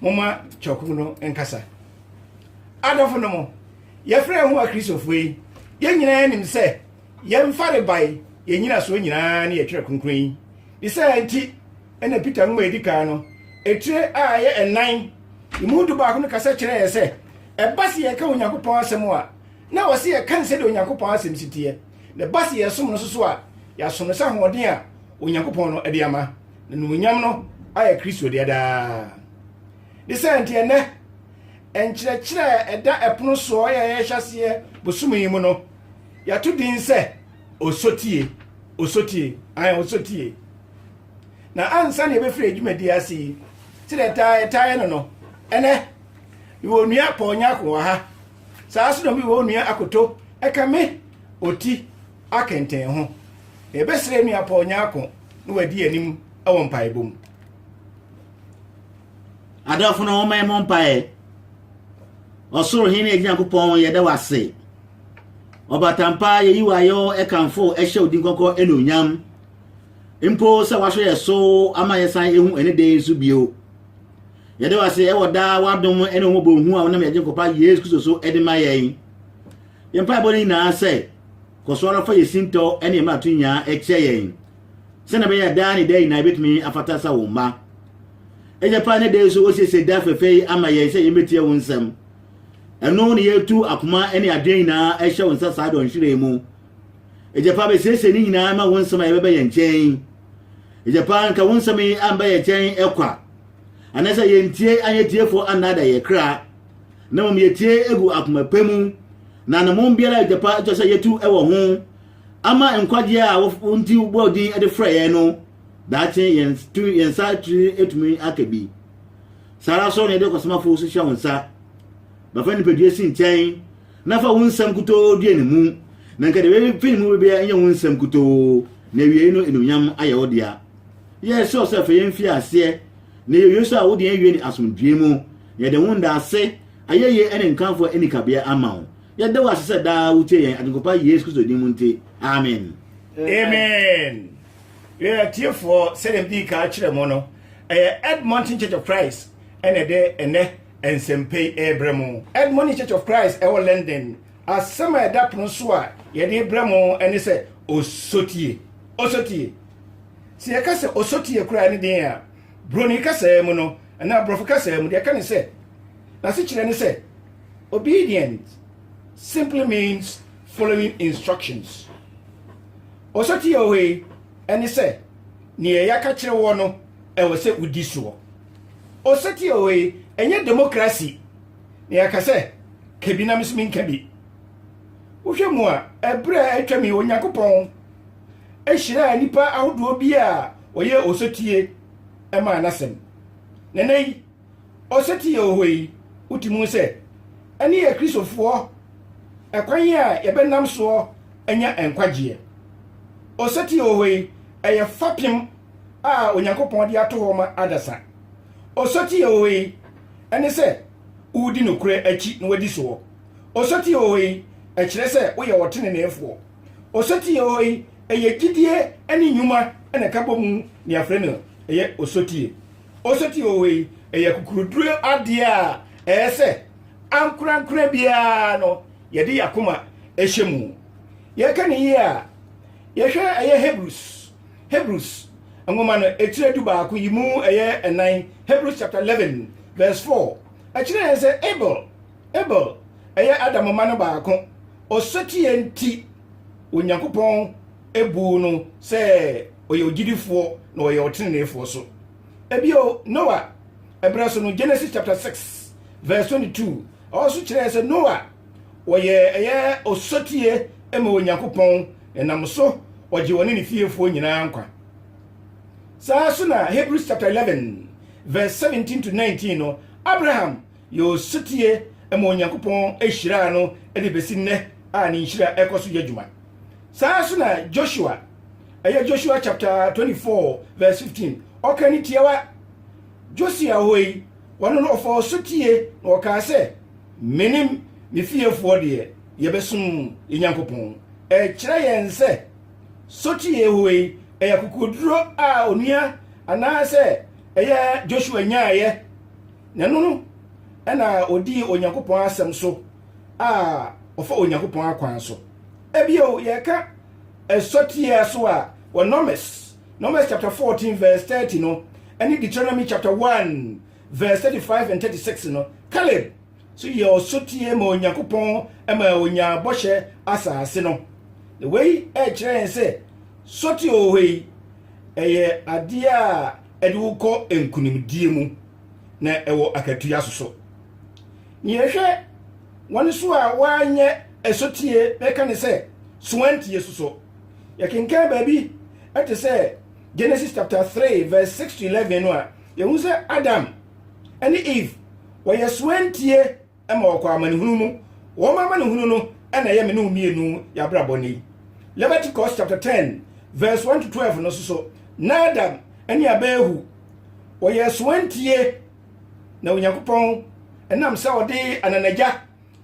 moma kyɛwkuku no nkasa adɔfo no mo yɛfrɛ yɛn ho akristofo yi yɛn nyinaa nim sɛ yɛn farebae yɛn nyinasoɔ nyinaa ne yɛtwerɛ kronkron yi ne sɛ nti ɛna peter nwoma ɛdi kan no ɛtire a ɛyɛ ɛnan ɛmu du baako no kasa kyerɛ yɛ sɛ ɛba se yɛka onyankopɔn asɛm a na wɔ se yɛka ne sɛdeɛ onyankopɔn asɛm si teɛ na ɛba se yɛsom no soso a yɛaso no sɛ ahoɔden a onyankopɔn no de ama na nuonyam no ayɛ kristo deɛ daa ne sɛ nti ɛnɛ nkyerɛkyerɛ a ɛda ɛpono soɔ yɛ yɛhyɛ aseɛ bosome yi mu no yɛato din sɛ osotie osotie ayɛ osotie na ansa na yɛbɛfiri adwumadi ase yi sɛdeɛ ɛtaa ɛtaeɛ no no ɛnɛ mewɔ onua pɔɔnyako wɔ ha saa so na mewɔ onua akoto ɛka me ɔti akɛntɛn ho. Yɛbɛsrɛ Nua Paul Nyarko na wadi anim wɔ mpaebɔ mu. Adɔfo no wɔn mmɔ mpaeɛ. Ɔsoro Hene Agya Nyankopɔn yɛda wo ase. Ɔbatampa yɛyi wo ayɔ ɛkamfo ɛhyɛ odin kɔkɔ ɛna onyam. Mpo sɛ wahwɛ yɛ so ama yɛsan ehu ɛne dɛ nso bio. Yɛda wo ase ɛwɔ daa wadom ɛne wɔn bɔ hu a wɔnam yɛgye nkɔpa Yesu Kristo so ɛde ma yɛn. Yɛn mpaebɔ no nyinaa sɛ, kɔ so ara fa yɛn sintɔ ne yɛn mmarato nyinaa kyɛ yɛn, sɛnea ɛbɛyɛ a daa ne daa nyinaa yɛbɛtumi afata sɛ wo mma. Agya pa ne da yi so wɔasiesie da fɛfɛ yi ama yɛn sɛ yɛmmɛtie wo nsɛm. Ɛno ne yɛtu akoma ne adwene nyinaa ɛhyɛ wo nsa saa dɔ nhwere mu. Agya pa bɛsiesie ne nyinaa ma wo nsɛm a yɛbɛbɛ yɛn nkyɛn. Agya pa nka wo nsɛm yi amba yɛn nkyɛn ɛkwa. Anasɛ yɛntie anyɛ tiefo annaada yɛ kra. Na mmom yɛtie gu akoma pa mu, na ne mmom biara a agya pa kyerɛ sɛ yɛtu wɔ ho ama nkwagyeɛ a wo nti wobɔɔ din de frɛ yɛn no, daakye yɛn tumi yɛn nsa atumi aka bi. Saa ara nso na yɛde ɔkwasamafo nso hyɛ wo nsa. Bɛfa nipadua si nkyɛn na fa wo nsɛm kutoo dua ne mu, na nka deɛ bɛfi ne mu bɛbia nyɛ wo nsɛm kutoo, na awiei no enuonyam ayɛ wo dea. Yɛsrɛ wo sɛ fa yɛn mfiri aseɛ, Ne yɛ Yesu a wode awie ne asomdwee mu. Yɛde wo ndaase, ayɛyie ne nkamfoɔ ani kabea ama wo. Yɛda wo ase sɛ daa wotie yɛn Agyenkɔpa Yesu Kristo din mu nti. Amen. Amen. Yɛn atiefoɔ, sɛdeɛ medii kan akyerɛ mo no, ɛyɛ Edmonton Church of Christ ɛna ɛde ɛnɛ nsɛmpa yi ɛrebrɛ mo. Edmonton Church of Christ ɛwɔ London. Asɛm a ɛda pono so a yɛde brɛ mo ɛne sɛ, Osotie! Osotie! Sɛ yɛka sɛ ɔsɔti yɛ koraa ne den a, Buroni kasaa mu no, anaa Aborɔfo kasaa mu, deɛ ɛka ne sɛ, n'asekyerɛ ne sɛ, Obedience simply means following instructions. Ɔsɔti a ɛwɔ hɔ yi ne sɛ, Nea yɛaka kyerɛ woɔ no, ɛwɔ sɛ wodi soɔ. Ɔsɔti a ɛwɔ hɔ yi, ɛnyɛ demokrasi, na yɛaka sɛ, Ka bi na me nso menka bi. Wohwɛ mu a, ɛberɛ a atwam yi, Onyankopɔn. hyiraa nnipa ahodoɔ bi a wɔyɛ osetie maa n'asɛm. Na ɛnɛ yi, osetie a ɔwɔ yi, wote mu sɛ ɛne yɛ Kristofoɔ ɛkwan a yɛbɛnam soɔ anya nkwagyeɛ. Osetie a ɔwɔ yi, ɛyɛ fapem a Onyankopɔn de ato hɔ ma adasa. Osetie a ɔwɔ yi, ɛne sɛ wodi nokorɛ akyi na wadi soɔ. Osetie a ɔwɔ yi, ɛkyerɛ sɛ woyɛ ɔteneneefoɔ. Osotie hɔ yi, ɛyɛ gyidie ne nnwuma na ɛka bɔ mu na yɛafrɛ no ɛyɛ osotie. Osotie hɔ yi, ɛyɛ kukuruduro adeɛ a ɛyɛ sɛ ankorankora biara no yɛde yɛakoma ɛhyɛ mu. Yɛka ne yie a, yɛhwɛ ɛyɛ Hebrews, Hebrews nwoma no ɛkyerɛ du baako yi mu ɛyɛ ɛnan, Hebrews chapter 11 verse 4, ɛkyerɛ yɛn sɛ Abel, Abel ɛyɛ Adam mma no baako, Osetie nti, Onyankopɔn buu no sɛ ɔyɛ ogyidifoɔ na ɔyɛ ɔteneneefoɔ so. Bio, Noa berɛ so no, Genesis chapter 6 verse 22, ɛhɔ nso kyerɛɛ sɛ Noa ɔyɛ ɛyɛ osotie ma Onyankopɔn, na nam so ɔgye ɔne ne fiefoɔ nyinaa nkwa. Saa so na Hebrews chapter 11 verse 17 to 19 no, Abraham Yɛ osetie ma Onyankopɔn hyiraa no de besi nnɛ a ne nhyira kɔ so yɛ adwuma. Saa ara nso na Joshua, ɛyɛ Joshua chapter24:15, ɔka ne tiawa. Josia hɔ yi, ɔno no ɔfa osetie na ɔkaa sɛ, Mene me fiefoɔ deɛ yɛbɛsom yɛn Nyankopɔn. Ɛkyerɛ yɛn sɛ sotie hɔ yi ɛyɛ akokoduro a onua anaasɛ ɛyɛ Joshua nyaaeɛ. Na ɛno no na ɔdii Onyankopɔn asɛm so a ɔfa Onyankopɔn akwan so. Ebio, yɛka ɛsɔteɛ so a, wɔ Nɔmɛs, Nɔmɛs chapter 14 verse 30 no, ɛne Deuteronomy chapter 1 verse 35 and 36 no, Caleb so yɛ ɔsɔteɛ ma Onyankopɔn ma ɔnyaa bɔhyɛ asase no. Na wei ɛkyerɛ yɛn sɛ sɔteɛ wɔ hɔ yi, ɛyɛ adeɛ a ɛde wo kɔ nkonimdie mu na ɛwɔ akatua so so. Nea ɛhwɛ wɔn so a wɔanyɛ ɛsotie na ɛka ne sɛ, So wɔantie so so? Yɛkenkan baabi ɛte sɛ Genesis chapter 3 verse 6 to 11 no a, yɛhu sɛ Adam ne Eve wɔyɛ so antie ma wɔkɔ amanehunu mu. Wɔn amanehunu no na ɛyɛ me ne wo mmienu yɛabrabɔ nnɛ yi. Leviticus chapter 10 verse 1 to 12 no nso so, Nadab ne Abihu wɔyɛɛ soantie na Onyankopɔn ɛnam sɛ ɔde ananagya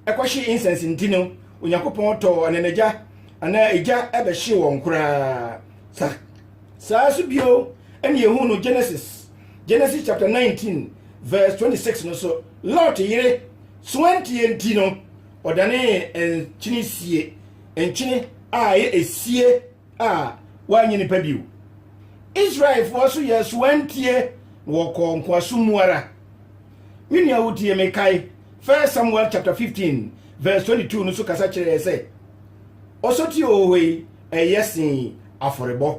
ɛkɔhye incense nti no, Onyankopɔn tɔɔ ananagya anaa egya ɛbɛhye wɔn koraa. Sa saa nso bio ɛne ehu no Genesis Genesis chapter 19 verse 26 no so Lot yere soantie nti no ɔdanee nkyene sie nkyene a ɛyɛ esie a wanyɛ nipa bio Israelfoɔ so yɛ soantie na wɔkɔɔ nkoasom mu ara me nua wotie me kae 1 Samuel chapter 15 verse 22 no so kasa kyerɛɛ sɛ ɔsɔtie ohohoi ɛyɛ sen afɔrebɔ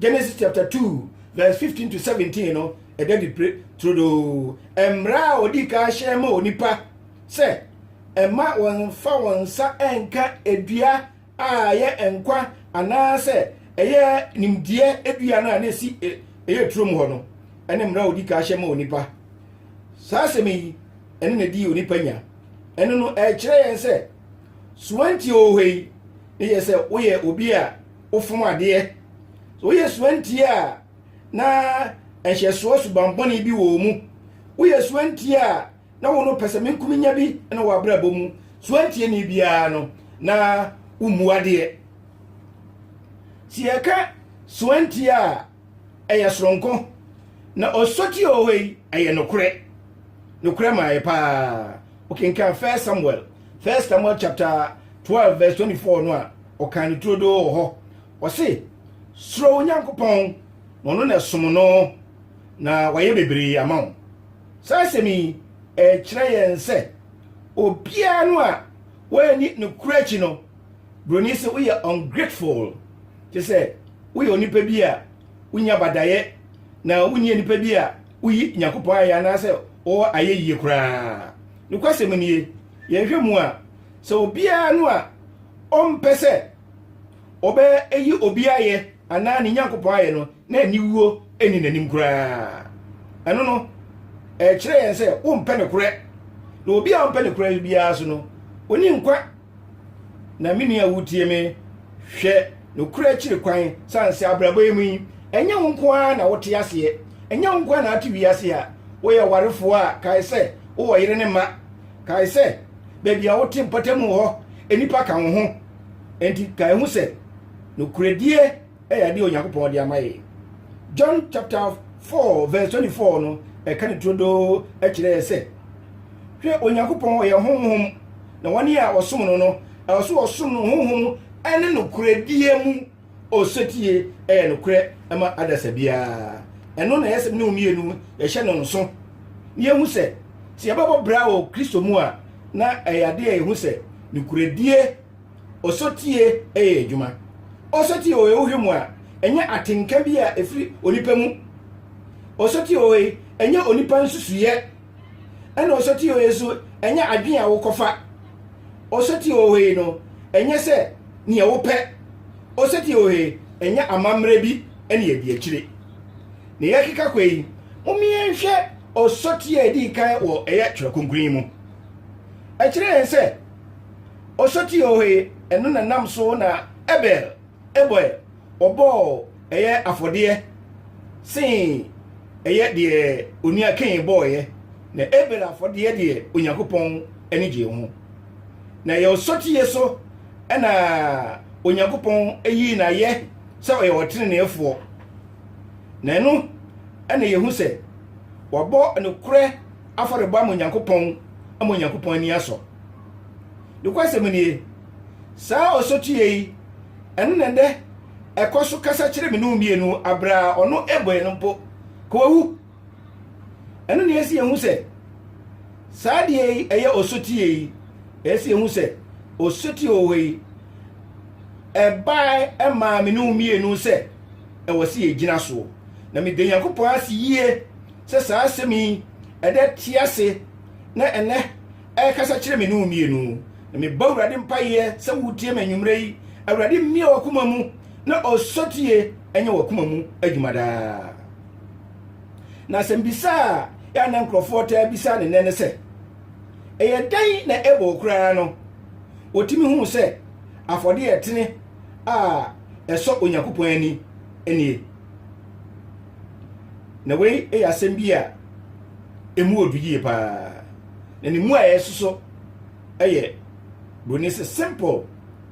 Genesis chapter 2 verse 15 to 17 no ɛda di pere turodoo mmara a ɔdi kan hyɛ ma onipa sɛ ɛma wɔmfa wɔn nsa nka edua a ɛyɛ nkwa anaasɛ ɛyɛ nimdeɛ edua no a na esi e, ɛyɛ turom hɔ no ɛne mmara a ɔdi kan hyɛ ma onipa saa asɛm yi ɛne na di onipa nya ɛno no ɛkyerɛ yɛn sɛ suwanti ɔwɔ hɔ yi ne yɛ sɛ woyɛ obi a wofom adeɛ. Sɛ woyɛ suantie a na nhyɛsoɔ subammɔne bi wɔ wo mu. Woyɛ suantie a na wo no pɛsɛmenkominya bi na w'abrabɔ mu. Suantieni biara no, na wommu adeɛ. Sɛ yɛka suantie a ɛyɛ soronko na ɔsɔtie wɔ hɔ yi, ɛyɛ nokorɛ. Nokorɛ maayɛ paa. Wokenkan First Samuel, First Samuel chapter 12 verse 24 no a, ɔkan no turodoo wɔ hɔ. Ɔse, Suro Onyankopɔn, na ɔno na som no, na wayɛ bebree ama wo. Saa asɛm yi, ɛkyerɛ yɛn sɛ obiara no a wɔanni ne kura akyi no, Broni se woyɛ ungrateful, te sɛ woyɛ onipa bi a wonya badayɛ na wonyɛ nipa bi a woyi nyankopɔn ayɛ anaasɛ wɔwɔ ayɛ yie koraa nokwasɛm nie yɛnhwɛ mu a sɛ obiara no a ɔmpɛ sɛ ɔbɛyi obi ayɛ anaa ne nyankopɔn ayɛ no na aniwuo ɛni n'anim koraa ɛno no ɛkyerɛ yɛn sɛ wompɛ ne korɛ na obi a ɔmpɛ ne korɛ biara so no ɔni nkwa Na me nua wutie me, hwɛ nokorɛ akyiri kwan, sane sɛ abrabɔ yi mu yi, ɛnyɛ wo nko ara na wote aseɛ, ɛnyɛ wo nko ara na ate wiase a woyɛ ɔwarefoɔ a, kae sɛ wowɔ yere ne mma. Kae sɛ baabi a wote mpɔtam hɔ, nnipa ka wo ho. Enti kae hu sɛ nokorɛdie. yɛ adeɛ a Onyankopɔn de ama yɛn. John chapter 4 verse 24 no, ɛka ne turodoo kyerɛ yɛ sɛ, hwɛ Onyankopɔn ɔyɛ honhom, na wɔn a wɔsom no no, ɛwɔ so wɔsom no honhom ne nokorɛdie mu. Osetie yɛ nokorɛ ma adasa biara. Ɛno na ɛyɛ sɛ ne wo mmienu yɛhyɛ no nso. Na yɛhu sɛ, sɛ yɛbɛbɔ bra wɔ Kristo mu a, na ɛyɛ adeɛ a yɛhu sɛ nokorɛdie Osotie yɛ adwuma. Osotie wɔ wohwɛ mu a, ɛnyɛ atenka bi a ɛfiri onipa mu. Osotie wɔ yi, ɛnyɛ onipa nsusuyɛ. Ɛna osotie wɔ yi nso, ɛnyɛ adwene a wokɔfa. Osotie wɔ yi no, ɛnyɛ sɛ nea wopɛ. Osotie wɔ yi, ɛnyɛ amammerɛ bi ne adi akyire. Na yɛkeka kɔ yi, momeɛ nhwɛ osotie a ɛdii kan wɔ ɛyɛ Twerɛ Kronkron yi mu. Ɛkyerɛ yɛn sɛ, Ɔsɔti o he, ɛno na nam so na Abel bɔe, ɔbɔɔ ɛyɛ afɔdeɛ see ɛyɛ deɛ onua Kain bɔeɛ, na Abel afɔdeɛ deɛ Onyankopɔn ani gyee ho. Na ɛyɛ ɔsɔtie so na Onyankopɔn yii no ayɛ sɛ ɔyɛ ɔteneneefoɔ, na ɛno na yɛhu sɛ wabɔ nokorɛ afɔrebɔ ama Onyankopɔn ama Onyankopɔn ani asɔ. Nokwasɛm nie, saa ɔsotie yi, ɛno na ɛnɛ ɛkɔ so kasa kyerɛ me ne wo mmienu abere a ɔno ɛbɔ yɛn mpo, ka wawu. Ɛno na ɛsi yɛn hu sɛ saa deɛ yi ɛyɛ ɔsotie yi, ɛsi yɛn hu sɛ ɔsotie wɔ hɔ yi ɛbaa ɛmaa me ne wo mmienu sɛ ɛwɔ sɛ yɛgyina soɔ na meda Nyankopɔn ase yie sɛ saa asɛm yi ɛda te ase na ɛnnɛ ɛrekasa kyerɛ me ne wo mmienu. Na mebɔ Awurade mpaeɛ sɛ wotie me anwummerɛ yi. Awurade mmie w'akoma mu na ɔsɔtie ɛnyɛ w'akoma mu adwuma daa. Na asɛmbisa a yɛ na nkurɔfoɔ taa bisa ne nnɛ ne sɛ, ɛyɛ dɛn na ɛbɔ wo koraa no wɔtumi huu sɛ afɔdeɛ ɛtene a ɛsɔ Onyankopɔn ani nie? Na wei yɛ asɛm bi a ɛmu ɔdu yie paa na ne mu a ɛsoso yɛ buroni sɛ simple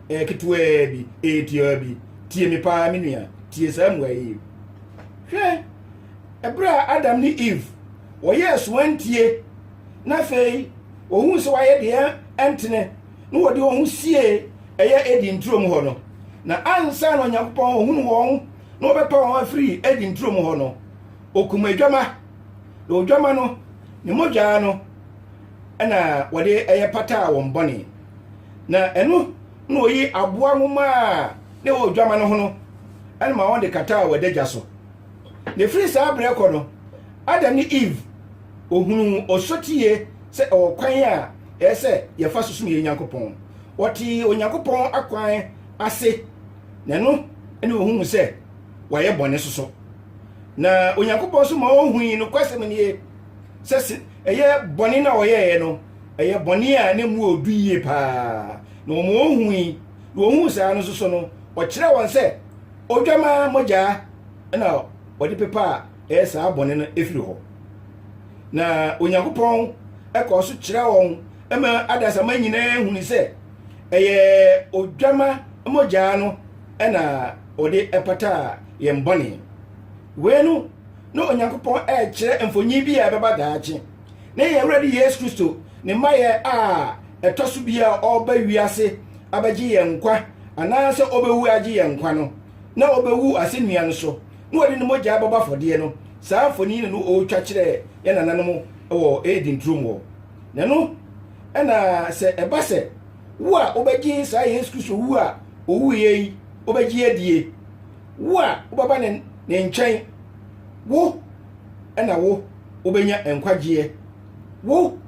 ɛyɛ eh, ketewaa bi ɛyɛ eh, tiaa bi tie me paa me nua tie saa mmoa yi hwɛ ɛberɛ a adam ne eve wɔyɛɛ so antie na afei wɔhuu sɛ wɔayɛ deɛ ɛntene na wɔde wɔn ho sie ɛyɛ edi nturom hɔ no na ansa na onyankopɔn ɔhunu wɔn na ɔbɛtɔn wɔn afiri Eden turo mu hɔ no, ɔkum adwama, na odwama no, ne mogyaa no na wɔde ɛyɛ pataa wɔn bɔne. Na ɛno na ɔyi aboa nwoma a na ɛwɔ odwama no ho no ma wɔde kataa wɔn adagya so. Na ɛfiri saa berɛ kɔ no, Adam ne Eve ɔhunuu ɔsotie sɛ ɛwɔ kwan a ɛyɛ sɛ yɛfa so som yɛn Nyankopɔn. Wɔtee Onyankopɔn akwan ase. na ɛno ne ohunu sɛ wayɛ bɔne soso. Na Onyankopɔn nso ma ohui nokwasɛm nie sɛ se ɛyɛ bɔne na ɔyɛeɛ no, ɛyɛ bɔne a na mu ɔdu yie paa. Na wɔn ohui, na ohuu saa no soso no, ɔkyerɛ wɔn sɛ odwamaa mogyaa na ɔde pepaa ɛyɛ saa bɔne no efiri hɔ. Na Onyankopɔn ɛkɔɔ so kyerɛ wɔn ma adasamma nyinaa huni sɛ Ɛyɛ odwama mogya no na wɔde pataa yɛn bɔne. Wei no na Onyankopɔn rekyerɛ mfonyin bi a ɛbɛba daakye. Ne yɛn Awurade Yesu Kristo ne mmayɛ a ɛtɔ so bi a ɔreba wiase abɛgye yɛn nkwa anaasɛ ɔbɛwu agye yɛn nkwa no na ɔbɛwu asɛnnua no so na wɔde ne mogya bɛbɔ afɔdeɛ no. Saa mfonini no ɔretwa kyerɛ yɛn nananom wɔ Eden turom hɔ. na ɛno ɛna sɛ ɛba sɛ wo a wobɛgye saa yesu kristo wu a owuiɛ yi wobɛgye adie wo a wobɛba ne ne nkyɛn wo ɛna wo wobɛnya nkwagyeɛ wo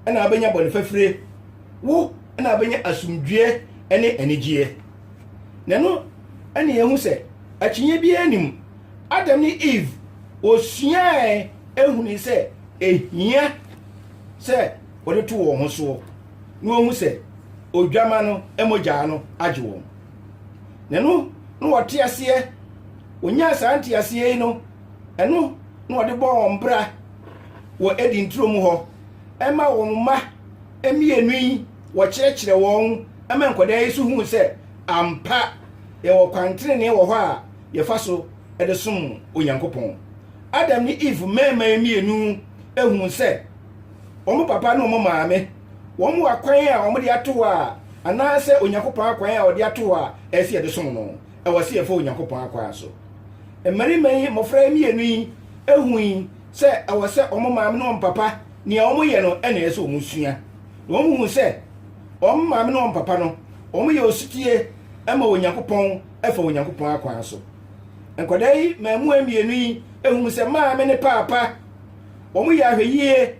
ɛna wobɛnya bɔne fafire wo ɛna wobɛnya asomdwoeɛ ɛne anigyeɛ na ɛno ɛne yɛhu sɛ akyinnye biara nim adam ne eve wɔsuae ehuni sɛ Ehia sɛ wɔde to wɔn ho soɔ na wɔhu sɛ Odwammaa no mogyaa no agye wɔn. Na ɛno na wɔte aseɛ, wɔnyaa saa nteaseɛ yi no, ɛno na wɔde bɔɔ wɔn bra wɔ Eden turo mu hɔ, ɛma wɔn mma mmienu yi wɔkyerɛkyerɛ wɔn ma nkwadaa yi so hu sɛ ampa yɛwɔ kwan tenenee wɔ hɔ a yɛfa so de som Onyankopɔn. Adam ne Eve mmarimaa mmienu huu sɛ wɔn papa ne wɔn maame, wɔn akwan a wɔde ato hɔ a, anaasɛ Onyankopɔn akwan a ɔde ato hɔ a ɛsɛ sɛ yɛde som no, ɛwɔ sɛ yɛfa Onyankopɔn akwan so. Mmarima yi, mmɔfra mmienu yi, hui sɛ ɛwɔ sɛ wɔn maame ne wɔn papa, nea wɔyɛ no na ɛsɛ sɛ wɔsua. Na wɔhuu sɛ wɔn maame ne wɔn papa no, wɔyɛ osetie ma Onyankopɔn fa Onyankopɔn akwan so. Nkwadaa yi mmaamua mmienu yi hunu sɛ maame ne paapa wɔyɛ ahwɛyie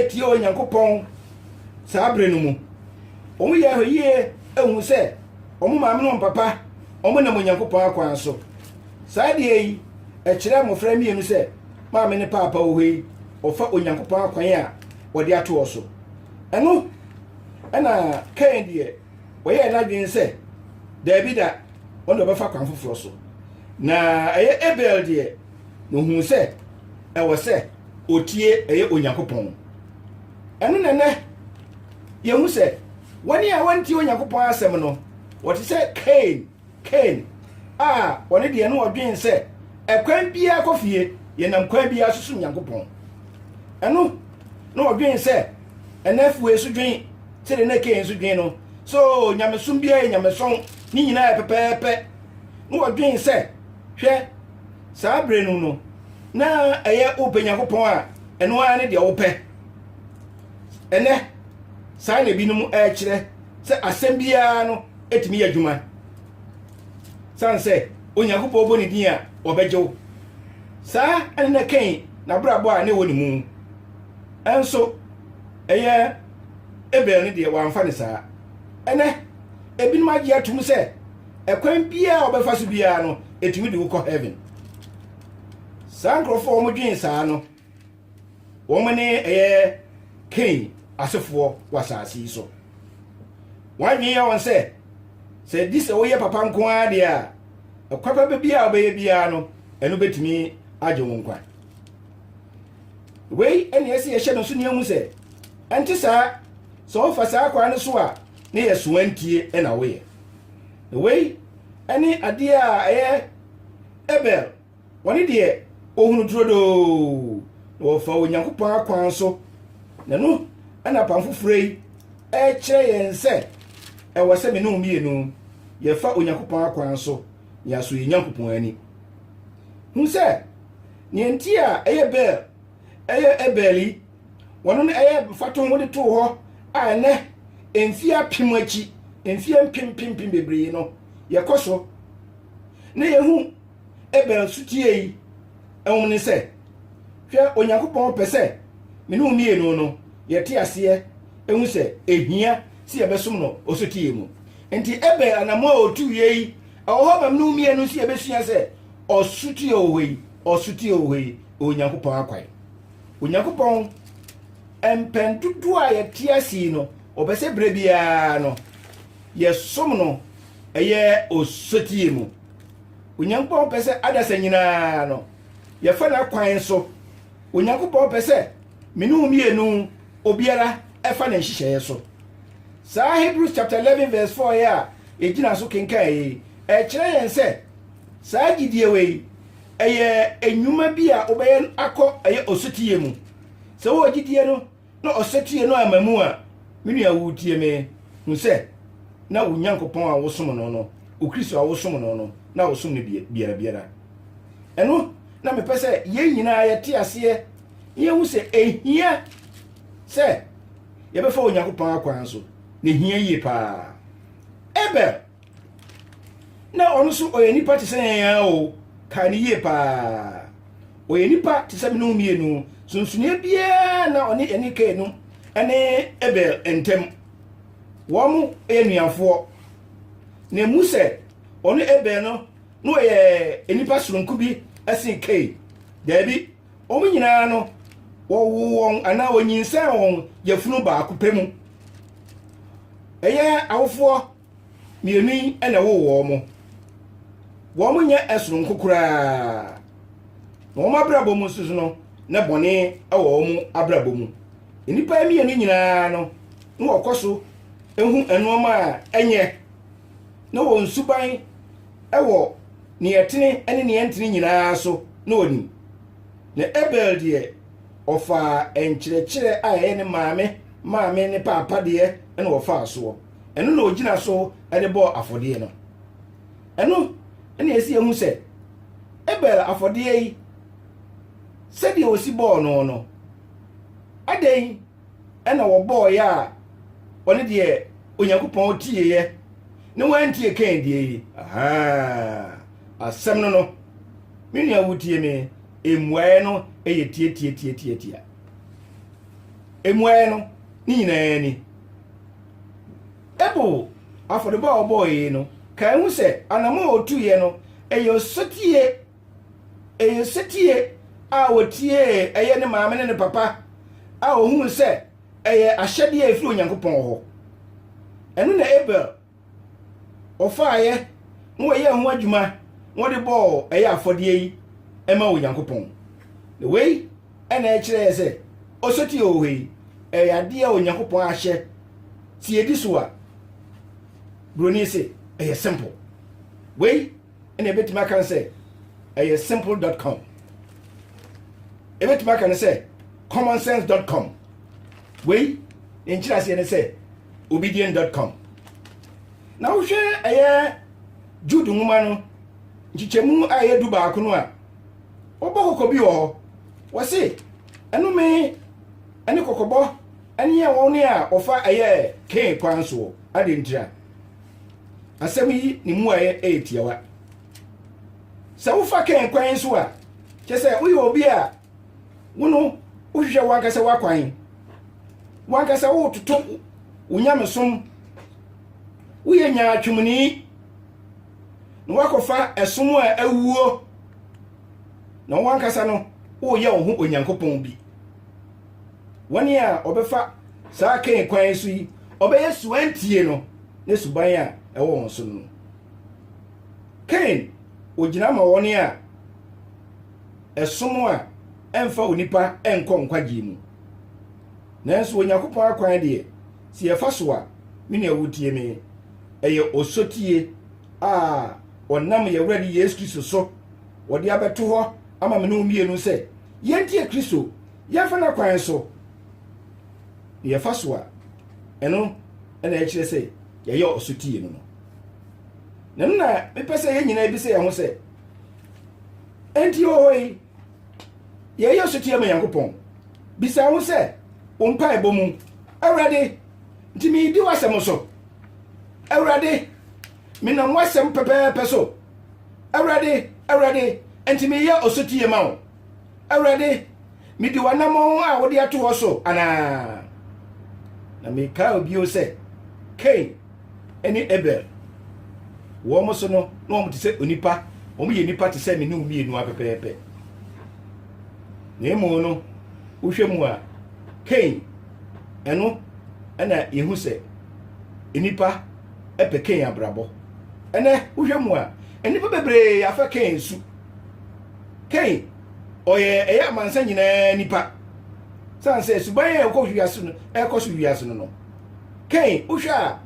tie Onyankopɔn saa berɛ no mu. Wɔyɛ ahwɛyie hunu sɛ wɔn maame ne wɔn papa wɔnam Onyankopɔn akwan so. Saa deɛ yi ɛkyerɛ mmɔfra mmienu sɛ maame ne paapa wɔ hɔ yi wɔfa Onyankopɔn akwan a wɔde ato hɔ so. Ɛno ɛna Kain deɛ ɔyɛɛ n'adwene sɛ daabi da ɔne ɔbɛfa kwan foforɔ so. Na ɛyɛ Abel deɛ na ɔhuu sɛ ɛwɔ sɛ ɔtie ɛyɛ Onyankopɔn. Ɛno na ɛnɛ yɛhu sɛ wɔne a wɔntie Onyankopɔn asɛm no wɔte sɛ Kain. Kain a ɔno deɛ na ɔdwen sɛ ɛkwan biara kɔ fie, yɛnam kwan biara so som Nyankopɔn. Ɛno na ɔdwen sɛ ɛna afue so dwen sɛdeɛ na Kain so dwen no. So nyamesom biara yɛ nyamesɔn, ne nyinaa yɛ pɛpɛɛpɛ. Na ɔdwen sɛ, hwɛ, saa berɛ no no, na ɛyɛ wopɛ Nyankopɔn a, ɛno ara ne deɛ wopɛ. Ɛnɛ, saa na ebinom ɛrekyerɛ sɛ asɛm biara no atumi yɛ adwuma sane sɛ onyankopɔn bɔ ne din a wɔbɛgye wo saa ɛne na kɛn n'abrabɔ a ne wɔ ne mu ɛnso ɛyɛ ebel no deɛ wɔamfa ne saa ɛnɛ ebinom agye atom sɛ ɛkwan biara a wɔbɛfa so biara no ɛtumi de wokɔ heaven saa nkurɔfoɔ a wɔdwen saa no wɔn ne ɛyɛ kain asefoɔ wɔ asase yi so wɔn adwene yɛ wɔn sɛ sɛ ɛdi sɛ woyɛ papa nko ara deɛ a ɛkwapa baabi a wobɛyɛ biara no ɛno bɛtumi agye wo nkwa wei ɛne ɛsɛ yɛhyɛ no so nea mu sɛ ɛnte saa sɛ wofa saa kwan no so a ne yɛ soantie na woyɛ wei ɛne adeɛ a ɛyɛ ebel Wɔne deɛ ɔhunu turodoo, na wɔfa Onyankopɔn akwan so. Na ɛno ɛna apam foforɔ yi ɛrekyerɛ yɛn sɛ ɛwɔ sɛ me ne wo mmienu yɛfa Onyankopɔn akwan so na yɛasɔ yɛn Nyankopɔn ani. Hu sɛ neɛ nti a ɛyɛ Bel, ɛyɛ Ebel yi, wɔn no ɛyɛ mfatoho wode too hɔ a ɛnɛ mfeɛ apem akyi, mfeɛ mpem mpem mpem bebree no yɛkɔ so na yɛhu Ebɛn su tsie yi nwom ne sɛ, Hwɛ Onyankopɔn pɛ sɛ me ne wo mmienu no yɛte aseɛ hu sɛ ɛhia sɛ yɛbɛsom no ɔsotie mu. Nti ɛbɛn anamoa a ɔtuiɛ yi ɛwɔ hɔ ma me ne wo mmienu sɛ yɛbɛsua sɛ ɔsotie wɔ hɔ yi, ɔsotie wɔ hɔ yi, Onyankopɔn akwan. Onyankopɔn mpɛn dodoɔ a yɛte ase yi no, ɔpɛ sɛ berɛ biara no yɛsom no ɛyɛ ɔsotie mu. Onyankopɔn pɛ sɛ adasa nyinaa no, yɛfa n'akwan so. Onyankopɔn pɛ sɛ me ne wo mmienu obiara fa ne nhyehyɛeɛ so. Saa Hebrews chapter 11 verse 4 yɛ a yɛgyina so kenkan yi, ɛkyerɛ yɛn sɛ saa gyidie wei ɛyɛ nnwuma bi a wobɛyɛ akɔ ɛyɛ osutiyɛ mu. Sɛ wowɔ gyidie no, Na ɔsetie no amma mu a, me nua woretie me, hu sɛ, na wo Nyankopɔn a wosom no no, wo Kristo a wosom no no, na wosom no biara biara. Ɛno na mepɛ sɛ yɛn nyinaa yɛte aseɛ na yɛhu sɛ ɛhia sɛ yɛbɛfa Onyankopɔn akwan so, na ɛhia yie paa. Abel. na ɔno nso ɔyɛ nipa te sɛ yɛn ara o kae no yie paa ɔyɛ nipa te sɛ mene mmienu sunsuni biara na ɔne ɛne kae no ɛne ebel ntɛm wɔn mo yɛ nuafoɔ na emu sɛ ɔno ebel no na ɔyɛ nipa soronko bi ɛsen kae daabi wɔn nyinaa no wɔwo wɔn anaa wɔnyinsɛn wɔn yɛfunu baako pɛ mu ɛyɛ awofoɔ Mmienu yi na ɛwoo wɔn. Wɔn nyɛ soronko koraa. Na wɔn abrabɔ mu nso no, na bɔne wɔ wɔn abrabɔ mu. Nnipa yi mmienu nyinaa no, na wɔkɔ so hu nneɛma a ɛnyɛ, na wɔn suban wɔ nea ɛtene ne nea ɛntene nyinaa so na wɔnim. Na Abel deɛ, ɔfaa nkyerɛkyerɛ a ɛyɛ ne maame maame ne paapa deɛ na wɔfaa soɔ. ɛno na ɔgyina so de bɔɔ afɔdeɛ no ɛno ɛna ɛsi ɛhu sɛ abel afɔdeɛ yi sɛdeɛ ɔsi bɔɔ no no adɛn ɛna wɔbɔɔeɛ a ɔne deɛ onyankopɔn tieeɛ ne wantie kan deɛ yi asɛm no no me nua wotie me mmuaeɛ no yɛ tiatiatiatiatia mmuaeɛ no ne nyinaa ni Abel afɔrebɔ a ɔbɔe no kae ho sɛ anammɔn a otuiɛ no yɛ osetie, ɛyɛ osetie a otiee ɛyɛ ne maame ne ne papa a ohuu sɛ ɛyɛ ahyɛdeɛ a ɛfiri Onyankopɔn hɔ. Ɛno na Abel wɔfaaeɛ na wɔyɛɛ ho adwuma na wɔde bɔɔ ɛyɛ afɔdeɛ yi ma Onyankopɔn. Na wei na ɛkyerɛɛ sɛ ɔsotie hɔ hɔ yi ɛyɛ adeɛ a Onyankopɔn ahyɛ tiedi so a buroni se ɛyɛ simple. Wei ɛna ebetumi aka no sɛ ɛyɛ simple dot com ebetumi aka no sɛ common sense dot com wei ne nkyerɛ aseɛ ne sɛ obedient dot com na wohwɛ ɛyɛ jude nwoma no nkyekyɛmu a ɛyɛ du baako no a wɔbɔ kɔkɔ bi wɔ hɔ wɔse ɛnome ɛne kɔkɔbɔ ɛne yɛ wɔn ne a wɔfa ɛyɛ kee kwan soɔ adeɛ ntira asɛm yi ne mmuaeɛ yɛ tiawa sɛ wofa kɛn kwan so a kyɛ sɛ woyɛ obi a wo no wohwehwɛ wankasa w'akwan wankasa wototo wo nyamesom woyɛ nyaatwomni na woakɔfa ɛsom a awuo na wankasa no woyɛ wo ho onyankopɔn bi wɔn a wɔbɛfa saa Kain kwan so yi, wɔbɛyɛ suantie no ne suban a ɛwɔ wɔn so no. Kain, ogyina ma wɔn a ɛsom a ɛmfa onipa nkɔ nkwagye mu. Nanso Onyankopɔn akwan deɛ, sɛ yɛfa so a, me nua wotie me, ɛyɛ osotie a ɔnam yɛn Awurade Yesu Kristo so wɔde abɛto hɔ ama me ne wo mmienu sɛ yɛntie Kristo Yɛmfa n'akwan so na yɛfa so a, ɛno na ɛkyerɛ sɛ yɛyɛ ɔsotie no no. Na ɛno na mepɛ sɛ yɛn nyinaa bisa yɛn ho sɛ, enti ɔhɔ yi, yɛyɛ ɔsotie ma Nyankopɔn? Bisa ho sɛ, wo mpaebɔ mu, Awurade, nti meyidi w'asɛm so? Awurade, menam w'asɛm pɛpɛɛpɛ so? Awurade, Awurade, nti meyɛ ɔsotie ma wo? Awurade, midi w'anammɔn a wode ato hɔ so anaa? Na mekae bio sɛ, Kain ne Abel, wɔn so no, na wɔn te sɛ onipa, wɔn yɛ nipa te sɛ me ne wo mmienu a pɛpɛɛpɛ. Na mmom no, wohwɛ mu a, Kain, ɛno na yɛhu sɛ nnipa pɛ Kain abrabɔ. Ɛnɛ, wohwɛ mu a, nnipa bebree afa Kain su. Hei, ɔyɛ ɛyɛ amansa nyinaa nipa. Sane sɛ suban a ɛkɔ wiase no ɛkɔ so wiase no no. Hei, wohwɛ a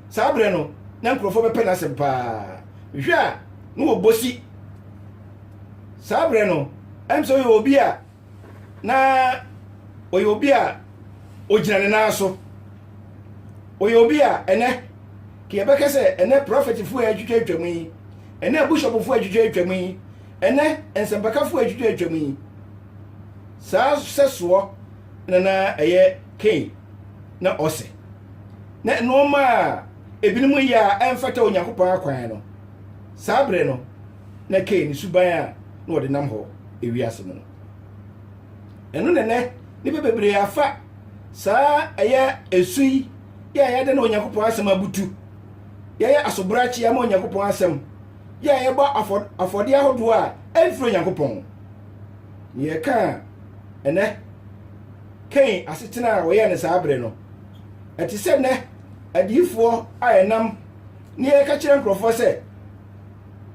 saa berɛ no na nkurɔfoɔ bɛpɛ n'asɛm paa. Hwɛ a na wɔbɔ si. Saa berɛ no, ɛm sɛ ɔyɛ obi a na ɔyɛ obi a ɔgyina ne nan so ɔyɛ obi a ɛnɛ ka yɛbɛka sɛ ɛnɛ prɔfɛtfoɔ a atwitwa atwam yi ɛnɛ bushɔpfoɔ a atwitwa atwam yi ɛnɛ nsɛmpakafoɔ a atwitwa atwam yi saa sɛsoɔ na na ɛyɛ kain na ɔse na nnoɔma a ebinom yɛ a ɛmfata onyankopɔn akwan no saa berɛ no na ɛka yɛn suban a na wɔde nam hɔ wiase mu no. Ɛno na ɛnɛ nnipa bebree afa saa ɛyɛ esu yi yɛ a yɛde ne Onyankopɔn asɛm abutu, yɛyɛ asobrakye ama Onyankopɔn asɛm, yɛ a yɛbɔ afɔdeɛ ahodoɔ a ɛmfiri Onyankopɔn. Na yɛka a ɛnɛ Kain asetena a wɔyɛ ne saa bere no, ɛte sɛ nnɛ adiyifoɔ a ɛnam ne yɛka kyerɛ nkurɔfoɔ sɛ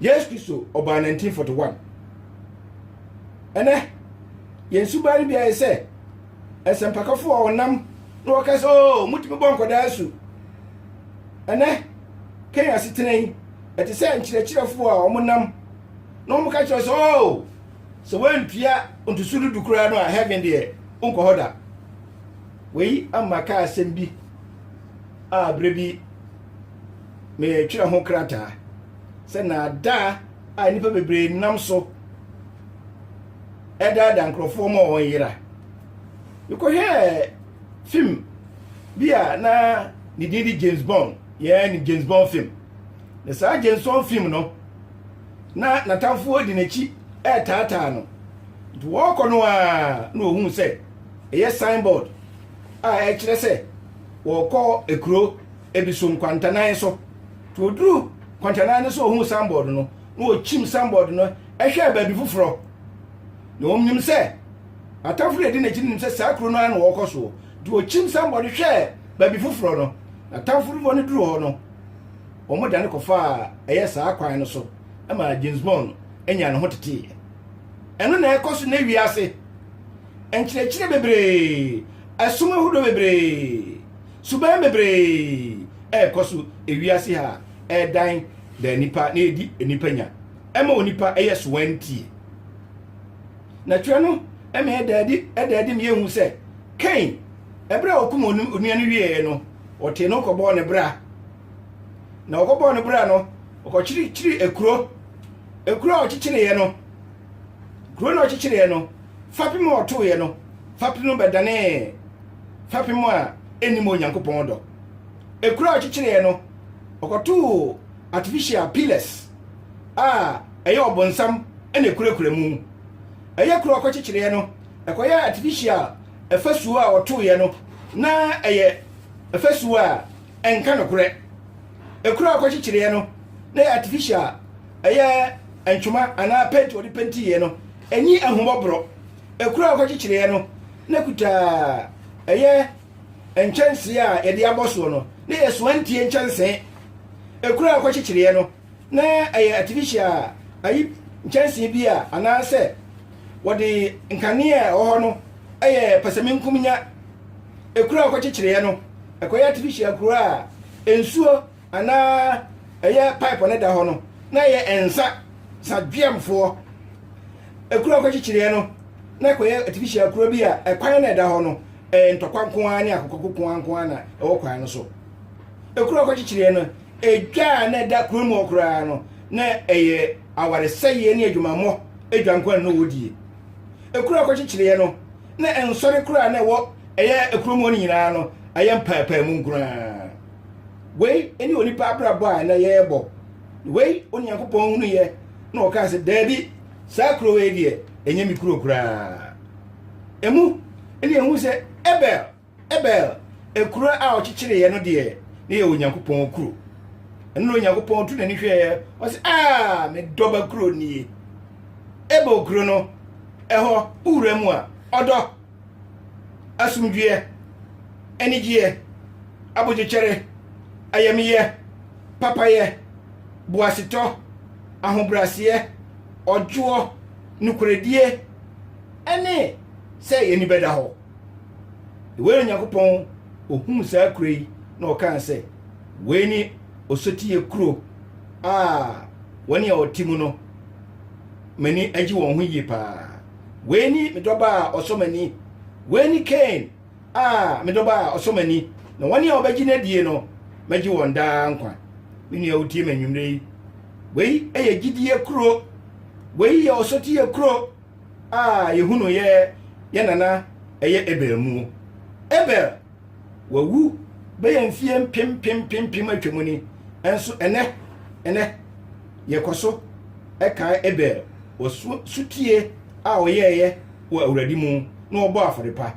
Yesu Kristo ɔbaa 1941. Ɛnɛ, yɛn suban no biara yɛ sɛ nsɛmpakafo a wɔnam na wɔka sɛ, oo, oh, mutumi bɔ nkwadaa asu. Ɛnɛ, Kenya asetena yi, ɛte sɛ nkyerɛkyerɛfo a wɔnam na wɔka kyerɛ sɛ, oo, oh, sɛ wɔantua ntoso dudu koraa no a heaven deɛ wonkɔ hɔ da. Wei ama kaa asɛm bi a berɛ bi meretwerɛ ho krataa sɛ nnaadaa a nnipa bebree nam so ɛdaada nkurɔfoɔ ma wɔn yera mekɔhwɛɛ fim bi a na ne din de james bond yɛɛ ne james bond fim na saa james bond fim no na n'atamfoɔ di n'akyi ɛretaataa no nti wɔrekɔ no a na wɔhu sɛ ɛyɛ signboard a ɛkyerɛ sɛ wɔrekɔ ekuro ebi so nkwantanan so. Nti oduruu nkwantanan no so ohuu sanbɔɔd no, na okyim sanbɔɔd no hwɛɛ baabi foforɔ. Na ɔnim sɛ n'atamfo no a ɛdi n'akyi no nim sɛ saa kuro no ara na wɔrekɔ soɔ. Nti okyim sanbɔɔd hwɛɛ baabi foforɔ no, n'atamfo no no duruu hɔ no, wɔdane kɔfaa ɛyɛ saa kwan no so ma James Bond nyaa ne ho teteeɛ. Ɛno na ɛkɔ so nnɛ wiase. Nkyerɛkyerɛ bebree, ɛsom ahodoɔ bebree. Suban bebree rekɔ so wiase ha a ɛredan da nnipa na edi nnipa nya. Ɛma onipa yɛ sowantie. Na twerɛ no ma ɛda adi ɛda adi ma yɛhu sɛ Kain, ɛberɛ a ɔkum onua no wieeɛ no, ɔtee no kɔbɔɔ ne bra. Na ɔkɔbɔɔ ne bra no, ɔkɔkyirikyiri ekuro. Ekuro a ɔkyekyereeɛ no, kuro no a ɔkyekyereeɛ no, fapem a ɔtoeɛ no, fapem no bɛdanee fapem a ɛnnim Onyankopɔn dɔ. Ekuro a ɔkyekyereɛ no, ɔkɔtoo artificial pillars a ɛyɛ ɔbonsam na ɛkurakura mu. Ɛyɛ kuro a ɔkɔkyekyereɛ no, ɛkɔyɛ artificial afasuo a ɔtoeɛ no, na ɛyɛ afasuo a ɛnka nokorɛ. Ekuro a ɔkɔkyekyereɛ no, na ɛyɛ artificial, ɛyɛ ntwoma anaa penti a ɔde pentiiɛ no, ɛnni ahummɔborɔ. Kuro a wɔkyekyerɛɛ no na kuta ɛyɛ nkyɛnsee a yɛde abɔ soɔ no na yɛ soantie nkyɛnsee. Kuro a wɔkyekyerɛɛ no na ɛyɛ artificial ayi nkyɛnsee bi a anaasɛ wɔde nkanea a ɛwɔ hɔ no yɛ pɛsɛmenkomenya. Kuro a wɔkyekyerɛɛ no kɔyɛ artificial kuro a nsuo Anaa ɛyɛ pipe no da hɔ no na ɛyɛ nsa sa dweamfoɔ ɛkuro ɔkɔkyekyereɛ no na ɛkɔyɛ artificial kuro bi a ɛkwan na ɛda hɔ no ɛyɛ ntɔkwa nko ara ne akokɔko nko ara nko ara na ɛwɔ kwan no so ɛkuro ɔkɔkyekyereɛ no ɛdwa a na ɛda kuro mu hɔ koraa no na ɛyɛ awaresɛeɛ ne adwumammɔ adwa nko ara na wɔdie ɛkuro ɔkɔkyekyereɛ no na ɛnsɔre koraa na ɛwɔ ɛyɛ ɛkuro mu hɔ no nyinaa no ɛyɛ mpaapaamu nko ara wei ne onipa abrabɔ a na yɛrebɔ wei onyankopɔn hunu yɛ na ɔkaa sɛ daabi saa kuro wei deɛ ɛnyɛ me kuro koraa ɛmu ne ɛhu sɛ ɛbɛl ɛbɛl ɛkuro a ɔkyekyereeɛ no deɛ ne yɛ onyankopɔn kuro ɛno na onyankopɔn tu n'ani hwɛeɛ ɔsɛ a medɔba kuro nie ɛbɛl kuro no ɛhɔ wowura mu a ɔdɔ asomdwoeɛ, anigyeɛ, abodwokyɛre, ayamyɛ, papayɛ, boasetɔ, ahobrɛaseɛ, ɔdwoɔ, nokorɛdie, ne sɛ yɛn ani bɛda hɔ. Wei na Onyankopɔn ɔhuu saa kuro yi na ɔkaa sɛ, wei ne ɔsotiiɛ kuro a wɔn a wɔte mu no, m'ani agye wɔn ho yie paa. Wei ni me dɔba a ɔsɔ m'ani. Wei ni Cain a me dɔba a ɔsɔ m'ani. Na wɔn a wɔbɛgye no adie no, mɛgye wɔn daa nkwa. Me nua wotie me anwummerɛ yi. Wei yɛ gyidie kuro. Wei yɛ ɔsɔteɛ kuro a yɛhunuiɛ yɛ nana ɛyɛ Abel muo. Abel wawu bɛyɛ mfeɛ mpem mpem mpem mpem atwam ni nso ɛnɛ ɛnɛ yɛkɔ so ɛkae Abel wɔ sutie a ɔyɛɛyɛ wɔ awurade mu na ɔbɔ afɔre pa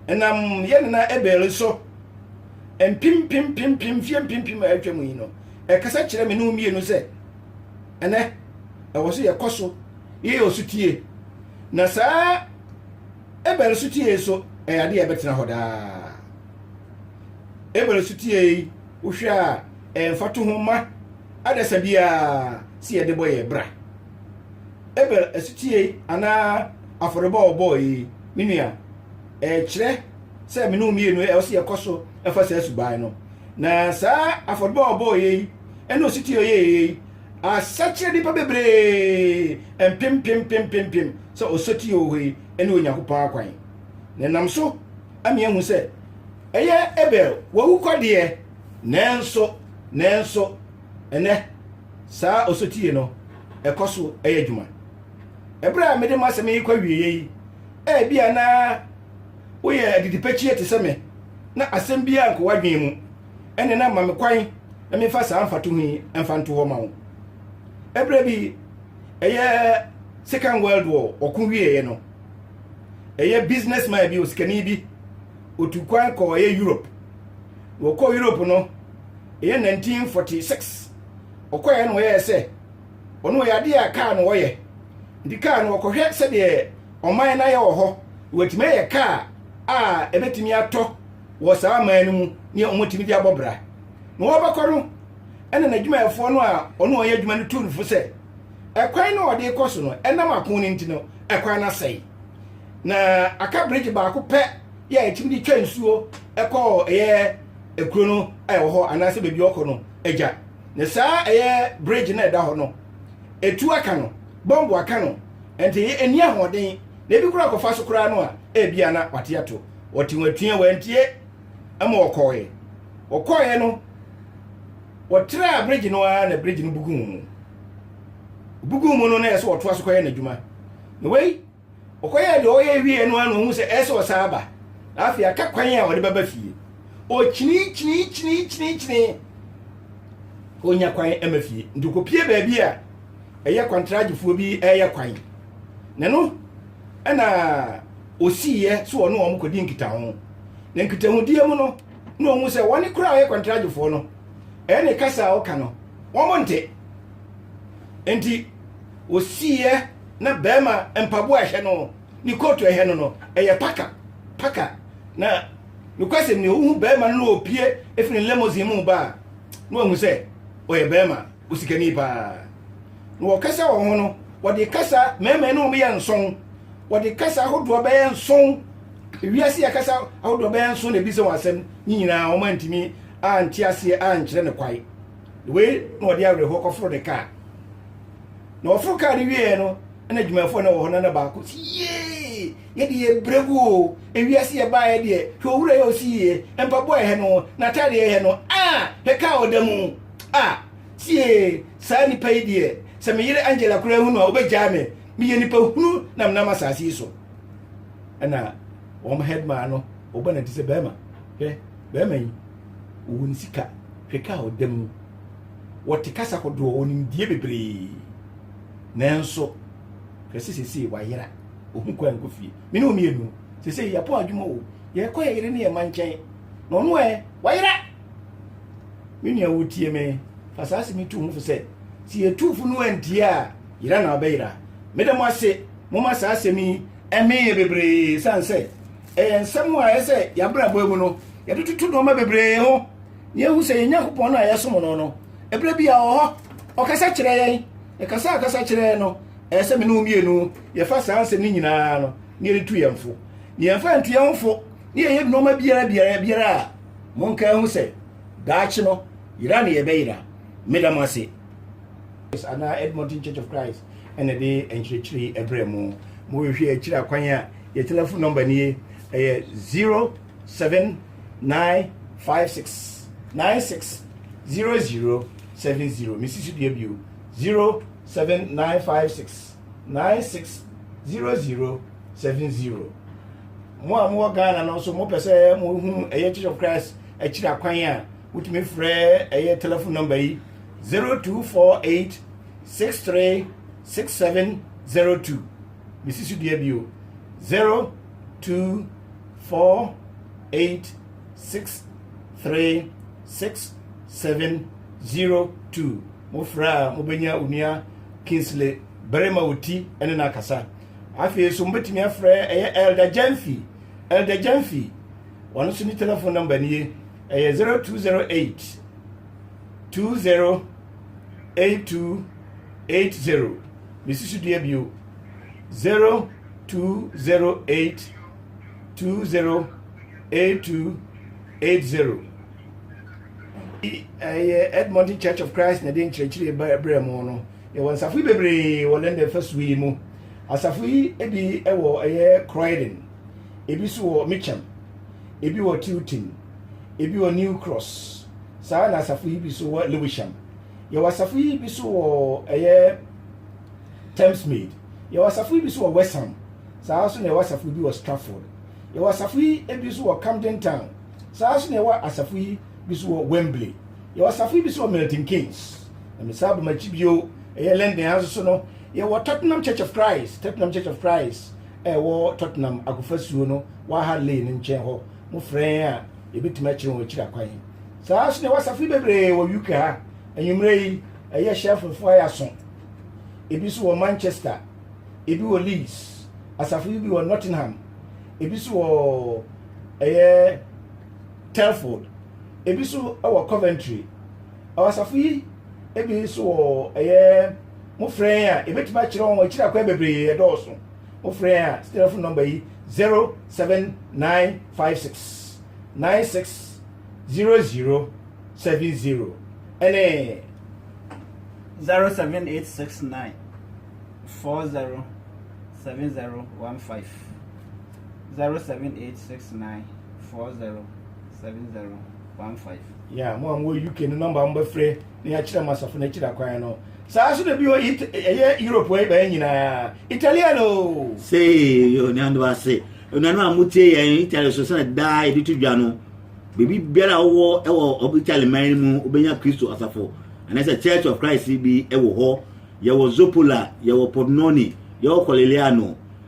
ɛnam yɛ nana Abel so mpem mpem mpem mpem mfeɛ mpem mpem a atwam yi no ɛkasa kyerɛ me ne wo mmienu sɛ ɛnɛ ɛwɔ so yɛkɔ so yɛyɛ ɔsutie na saa Abel sotie nso yɛ ade a ɛbɛtena hɔ daa. Abel sotie yi, wohwɛ a ɛyɛ mfatoho ma adasa biara sɛ yɛde bɔ yɛn bra. Abel sotie anaa afɔrebɔ a ɔbɔɔ yi, me nua, ɛkyerɛ sɛ me ne wo mmienu ɛwɔ sɛ yɛkɔ so fa saa suban no. Na saa afɔrebɔ a ɔbɔɔ yi ne ɔsotie a ɔyɛɛ yi Asa kyerɛɛ nnipa bebree mpempempempempem sɛ ɔsotie wɔ hɔ yi ne Onyankopɔn akwan, na ɛnam so ama yɛahu sɛ ɛyɛ Abel wawu kwa deɛ, nanso nanso ɛnɛ saa ɔsotie no ɛkɔ so ɛyɛ adwuma. Ɛberɛ a mede m'asɛm yi kɔ awieɛ yi, ɛbia na woyɛ adidipɛkyiɛ te sɛ me na asɛm biara nkɔ w'adwene mu. ɛne na ma me kwan na memfa saa mfatoho yi mfa nto hɔ ma wo ɛberɛ bi ɛyɛ second world war ɔko wieeɛ no ɛyɛ businessman bi osikani bi otu kwan kɔ ɛyɛ europe na ɔkɔ europe no ɛyɛ 1946 ɔkɔɛ na ɔyɛɛ sɛ ɔno ɔyɛ adeɛ a kaa no ɔyɛ nti kaa no ɔkɔhwɛ sɛdeɛ ɔman no ayɛ wɔ hɔ wɔatumi ayɛ kaa a ɛbɛtumi atɔ wɔ saa aman no mu ne wɔtumi de abɔ bra. Na wɔbɛkɔ no, ɛna n'adwumayɛfoɔ no a ɔne wɔn yɛ adwuma no tuu no fo sɛ, ɛkwan no a ɔde rekɔ so no, ɛnam ako no nti no, ɛkwan no asɛe. Na aka birigye baako pɛ yɛ a ɛtumi de twa nsuo kɔ ɛyɛ ekuro no a ɛwɔ hɔ anaasɛ baabi ɔkɔ no agya na saa ɛyɛ bridge no ɛda hɔ no etu aka no bɔmbo aka no nti ɛni ahoɔden na ebi kura kɔfa so koraa no a ebia na wate ato wɔte wɔatua wɔantie ma wɔkɔɔeɛ wɔkɔɔeɛ no wɔtraa bridge no ara na bridge no bugu mu bugu mu no na ɛsɛ wɔtoa so kɔyɛ n'adwuma na wei ɔkɔyɛ deɛ ɔyɛ wie no ano ɔhu sɛ ɛsɛ ɔsan aba na afei aka kwan a ɔde bɛba fie ɔkyini kyini kyini kyini kyini ɔnya kwan ma fie nti kɔpie baabi a ɛyɛ kwantragyefoɔ bi ɛyɛ kwan na no ɛna osiiɛ sɛ ɔne wɔn kɔdi nkitaho. Na nkitahodie mu no, na ɔhu sɛ wɔne koraa a ɔyɛ kɔntragyefoɔ no, ɛne kasa a ɔka no, wɔn nte. Enti, osiiɛ na bɛrima mpaboa a ɛhyɛ no, ne kootu a ɛhyɛ no no, ɛyɛ paka, paka. Na nokwasɛm ni, ɔhu bɛrima no na ɔpue firi ne limousine mu ba a, na wahu sɛ ɔyɛ bɛrima. Osikani paa. Na wɔkasa wɔn ho no, wɔde kasa mɛɛmɛɛ no wɔn yɛ nson. Wɔde kasa ahodoɔ bɛyɛ nson. Wiase yɛ kasa ahodoɔ bɛyɛ nson na ebisa wɔn asɛm. Ne nyinaa wɔn antumi ante aseɛ ankyerɛ no kwae. Wei na wɔde awerɛhoɔ kɔforo ne kaa. Na wɔforo kaa no wieɛ no, ɛna adwumayɛfoɔ na wɔ hɔ no na baako si yee yɛde yɛ brɛ gu o. Ewiase yɛ baeɛ deɛ hwɛ owura yɛ ɔsi yie mpaboa ɛhɛ no n'ataadeɛ ɛhɛ no a hwɛ kaa ɔda mu. Ah, tie, saa nipa yi deɛ, sɛ me yere Angela koraa hu no a, ɔbɛgyaa me. Meyɛ nipa hunu na menam asase yi so. Ɛna wɔn headman no, ɔbɔ n'adi sɛ bɛrima, hwɛ, bɛrima yi, ɔwɔ ne sika, hwɛ ka a ɔda mu. Wɔte kasa kodoɔ, ɔnimdie bebree. Nanso, hwɛ sɛ sesei wayera, ɔhu kwan nkɔ fie. Me ne wo mmienu, sesei yɛapɔn adwuma o, yɛkɔ yɛ yere ne yɛ mma nkyɛn. Na ɔno ɛ, wayera. Me nua wotie me, fa saa asɛm yi to wo ho fo sɛ, sɛ yɛtu fo no antie a, yera na ɔbɛyera. Meda mo ase, moma saa asɛm yi ɛmee yɛ bebree, ɛsiane sɛ ɛyɛ nsɛm a ɛyɛ sɛ yɛabrabɔ mu no, yɛde toto nnoɔma bebree ho, na yɛhu sɛ yɛn Nyankopɔn no a yɛsom no no, ɛberɛ bi a ɔwɔ hɔ, ɔkasa kyerɛ yɛn, na kasa a ɔkasa kyerɛ yɛn no, ɛyɛ sɛ me ne wo mmienu yɛfa saa nsɛm no nyinaa no, na yɛde tu yɛn fo, na yɛmfa ntu yɛn ho fo, na yɛyɛ nnoɔma biara biara biara a Monka nhu sɛ, daakye no, yera na yɛbɛyera. Meda mo ase. anaa Edmonton Church of Christ na ɛde nkyerɛkyerɛ yi ɛbrɛ mo. Mo hwehwɛ akyiri akwan a, yɛ telephone number nie, ɛyɛ 07956 96 0070. Mesi so dua bio, 07956 96 0070. Mo a mowɔ Ghana no nso mopɛ sɛ mohu ɛyɛ Church of Christ akyiri akwan a wotumi frɛ ɛyɛ telephone number yi 0248 636702 mesi so dua bio 0248 636702 mofrɛ a mobɛnya onua Kingsley Barima Oti ne no akasa Afei nso mobɛtumi afrɛ ɛyɛ Elder Gyamfi, Elder Gyamfi. Wɔn nso ne telephone number nie, ɛyɛ 0208 208280. Mesi so dua bio 0208 208280. Ɛyɛ Edmonton Church of Christ na ɛde nkyerɛkyerɛ brɛ mo no. Yɛwɔ nsafo yi bebree wɔ London fasuo yi mu. Asafo yi bi wɔ ɛyɛ Croydon, ebi nso wɔ Mitcham, ebi wɔ Tilton, ebi wɔ New Cross, saa na asafo yi bi nso wɔ Lewisham. Yɛwɔ asafo yi bi nso wɔ ɛyɛ Thamesmead. Yɛwɔ asafo yi bi nso wɔ West Ham. Saa nso na yɛwɔ asafo yi bi wɔ Stratford. Yɛwɔ asafo yi bi nso wɔ Camden Town. Saa nso na yɛwɔ asafo yi bi nso wɔ Wembley. Yɛwɔ safoe bi nso wɔ Milton Keynes. Na mesan ba m'akyi bio, ɛyɛ London ha nso so no, yɛwɔ Tottenham Church of Christ, Tottenham Church of Christ a ɛwɔ Tottenham akofasuo no, Waha Lane no nkyɛn hɔ. Mofrɛ yɛn a, yɛbɛtumi akyerɛ wɔn akyiri akwan. Saa nso na ɛwɔ safoe bebree wɔ UK ha. Anwummerɛ yi, ɛyɛ hyɛ mfomfoɔ ayɛ aso. Ebi nso wɔ Manchester, ebi wɔ Leeds, asafo yi bi wɔ Nottingham, ebi nso wɔ ɛyɛ Telford, ebi nso wɔ Coventry. Ɛwɔ asafo yi ebi nso wɔ ɛyɛ mo frɛ yɛn a ebetumi akyerɛ wɔn akyiri akwan bebree ɛdɔɔso. Mo frɛ yɛn a telephone number yi zero seven nine five six nine six zero zero seven zero ɛne zero seven eight six nine four zero seven zero one five. zero seven eight six nine four zero seven zero one five. Yeah, mo a mo wɔ UK no nɔmba mo bɛfrɛ na yɛakyerɛ mo asafo no akyiri akwan no saa so na bi hɔ ɛyɛ Europe wɔ ɛbɛyɛ nyinaa Italian o. sei onuanom ase onuanom a motie yɛn Italy so sɛnɛ daa yɛde to dwa no biribi biara a wowɔ ɛwɔ Italy man no mu wobɛnya Kristo asafo anaasɛ Church of Christ bi ɛwɔ hɔ yɛwɔ Zopola yɛwɔ Pordenone yɛwɔ Coliliano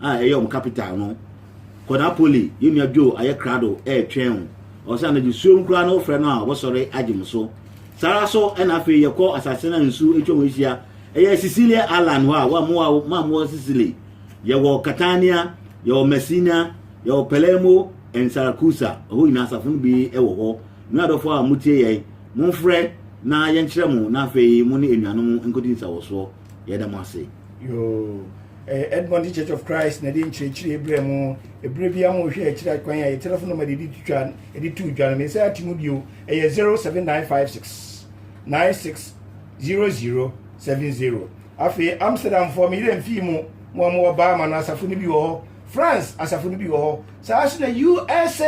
a ɛyɛ wɔn capital no. Kɔ Napoli, yɛn nua Joe ayɛ krado ɛretwɛn wo. Ɔsɛ anadwo suom koraa na wofrɛ no a ɔbɛsɔre agye mo so. Saa ara so ɛna afei yɛkɔ asase no a nsu atwa mu ahyia. Ɛyɛ Sicilia Island hɔ a wɔamoa wo ma mowɔ Sicily. Yɛwɔ Catania, yɛwɔ Messina, yɛwɔ Palermo and Saracusa. Ɛhɔ nyinaa asafo no bi wɔ hɔ. Me adɔfo a motie yɛn, momfrɛ na yɛnkyerɛ mo na afei mo ne anuanom nkɔdi nsawɔsoɔ. yɛda mo ase yoo eh, edmonton church of christ na ɛde nkyerɛkyerɛ berɛ mu ɛberɛ bia mo hwɛ akyirɛ kwan a yɛ telefon nɔma de ɛde to dwa no me sɛ ate mu bio ɛyɛ 07956 96 0070 afei amsterdamfoɔ meyerɛ mfii mu mo a mowɔ baama no asafo no bi wɔ hɔ france asafo no bi wɔ hɔ saa so na usa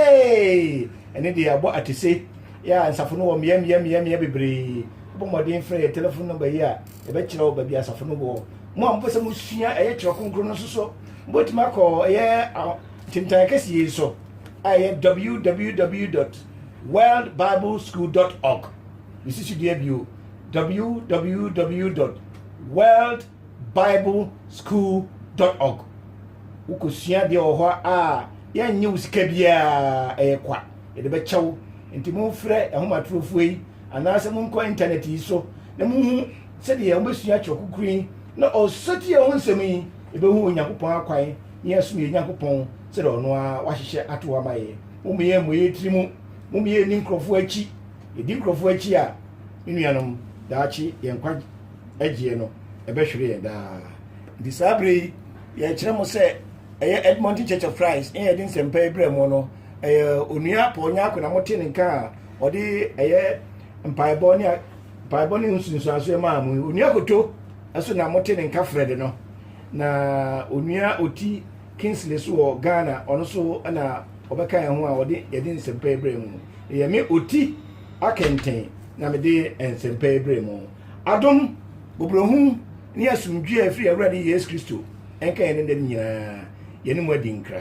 ɛne deɛ abɔ atese yɛ a nsafo no wɔ mmeameameamea bebree wobɔ mmɔden frɛ yɛ telefon nɔmba yi a Yɛbɛkyerɛ wo baabi asafo no wɔ. Mo a mopɛ sɛ mosua ɛyɛ Twerɛ Kronkron no nso so, mobɛtumi akɔ ɛyɛ ntentan kɛseɛ yi so a ɛyɛ www.worldbibleschool.org. Yɛsi so dua bio www.worldbibleschool.org. Wokɔsua adeɛ wɔ hɔ a yɛnnye wo sika biara, ɛyɛ kwa yɛde bɛkyɛ wo. Nti momfrɛ ahomatorofoɔ yi anaasɛ monkɔ intanɛt yi so na monhu sɛdeɛ mobɛsua Twerɛ Kronkron yi na ɔsotie ho nsɛm yi, yɛbɛhu Onyankopɔn akwan na yɛasom yɛn Nyankopɔn sɛdeɛ ɔno ara wahyehyɛ ato hɔ ama yɛn. Mom yɛn mmɔ yɛn tiri mu, mom yɛn nni nkurɔfoɔ akyi. Yɛdi nkurɔfoɔ akyi a, me nuanom, daakye yɛn nkwa agyeɛ no, ɛbɛhwere yɛn daa. Nti saa berɛ yi, yɛkyerɛ mo sɛ ɛyɛ Edmonton Church of Christ na yɛde nsɛmpa yi brɛ mo no, ɛyɛ Onua Paul Nyarko na motee ne nka a ɔde ɛyɛ mpaebɔ ne mpaebɔ ne nsunsuansoɛ maa mo onua koto ɛso na mote ne nka frɛ de no na onua oti kingsley so wɔ ghana ɔno so na ɔbɛka yɛn ho a ɔde yɛde nsɛmpa yi brɛ mu no ɛyɛ me oti akɛntɛn na mede nsɛmpa yi brɛ mu adom bobrohu ne asomdwoe a ɛfiri awurade yesu kristo ɛnka yɛn ne dɛm nyinaa yɛne mu adi nkra